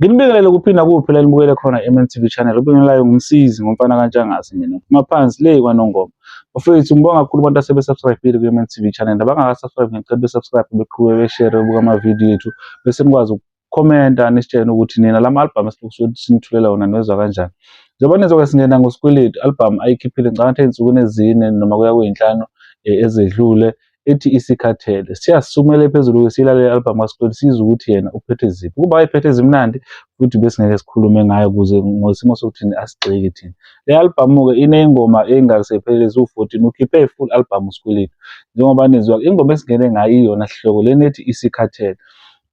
Nginibingelele kuphi nakuphi la nibukele khona MNTV channel. Ubingelelayo ngumsizi ngomfana kaNtshangase mina. Phuma phansi le kwaNongoma. Bafethu ngibonga kakhulu abantu asebe subscribe ku MNTV channel. Nabangaka subscribe ngicela be subscribe beqhube be share bebuka ama video ethu bese nikwazi ukukhomenta nisitshene ukuthi nina lama album esilokusuke sinithulela wona niwezwa kanjani. Njengoba nizoke singena ngosikweletu album ayikhiphile ngicabanga ukuthi ensukwini ezine noma kuya kweyinhlanu eh, ezedlule ethi isikhathele siyasumele phezulu ke silalele album kaSikweli sizwe ukuthi yena uphethe ziphi kuba ayiphethe zimnandi futhi besingeke sikhulume ngayo kuze ngosimo sokuthi asigxeki thina le album ke inengoma engasephelezi u14 ukhiphe ifull album uSikweletu njengoba nizwa ingoma esingene ngayo iyona sihloko lenethi isikhathele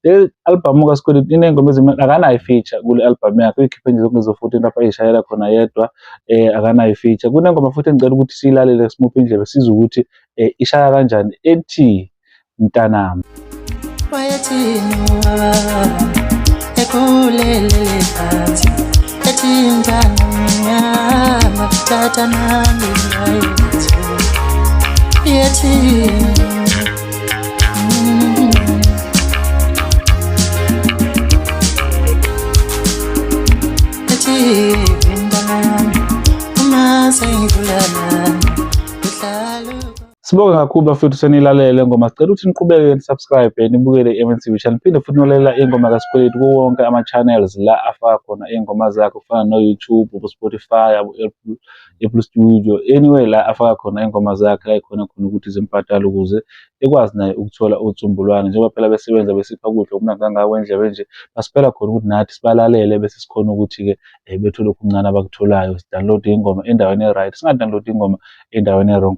Le albhamu kaSkweletu iney'ngoma ezimnandi, akanayo i-feature kule albhamu yakhe, uyikhiphe nje zonke lezo-fourteen lapho ey'shayela khona yedwa, um akanayo i-feature. Kunengoma futhi engicela ukuthi siyilalele simuphe indlebe sizwe ukuthi um ishaya kanjani ethi Mntanami. Yethi Sibonge kakhulu bafethu senilalele ngoma sicela ukuthi niqhubeke nisubscribe nibukele i-MNTV channel phinde futhi nolalela ingoma kaSikweletu kuwo wonke ama-channels la afaka khona iy'ngoma zakhe kufana no-YouTube, abo-Spotify, abo-Apple eBlue Studio anyway la afaka khona ingoma zakhe la ikhona khona ukuthi zimbhadale ukuze ekwazi naye ukuthola uTsumbulwane njengoba phela besebenza besipha ukudla okumnandi kangako endlebe nje basipela khona ukuthi nathi sibalalele bese sikhona ukuthi-ke um bethole okuncane abakutholayo sidownload ingoma endaweni e-right singadownload ingoma endaweni e-wrong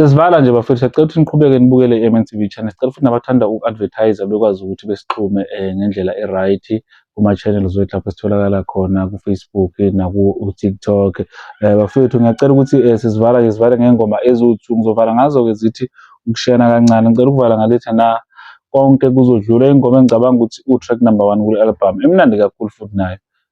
Sesivala nje bafethu siyacela ukuthi niqhubeke nibukele i-MNTV channel. Sicela futhi nabathanda uku-advertise bekwazi ukuthi besixhume eh, ngendlela e-right kuma-channels wethu lapho sitholakala khona ku-Facebook naku-TikTok. Eh, bafethu ngiyacela ukuthi eh, sizivala ke sivale ngengoma eziwu-two ngizovala ngazo-ke zithi ukushiyana kancane. Ngicela ukuvala ngalethi na konke kuzodlula ingoma engicabanga ukuthi u-track number one kule-album emnandi kakhulu futhi nayo.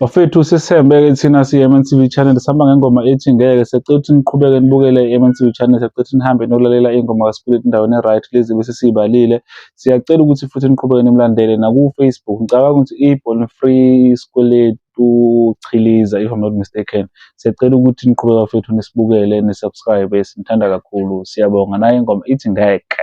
Bafethu sisembeke thina siyi-MNTV Channel sihamba ngengoma ethi ngeke secela ukuthi niqhubeke nibukele i-MNTV Channel secela ukuthi nihambe nokulalela ingoma kaSpillet endaweni e-right lezi bese siyibalile siyacela ukuthi futhi niqhubeke nimlandele naku-Facebook ngicabanga ukuthi i-Born Free Skweletu Chiliza if I'm not mistaken siyacela ukuthi niqhubeke bafethu nisibukele nisubscribe sinithanda kakhulu siyabonga nayo ingoma ithi ngeke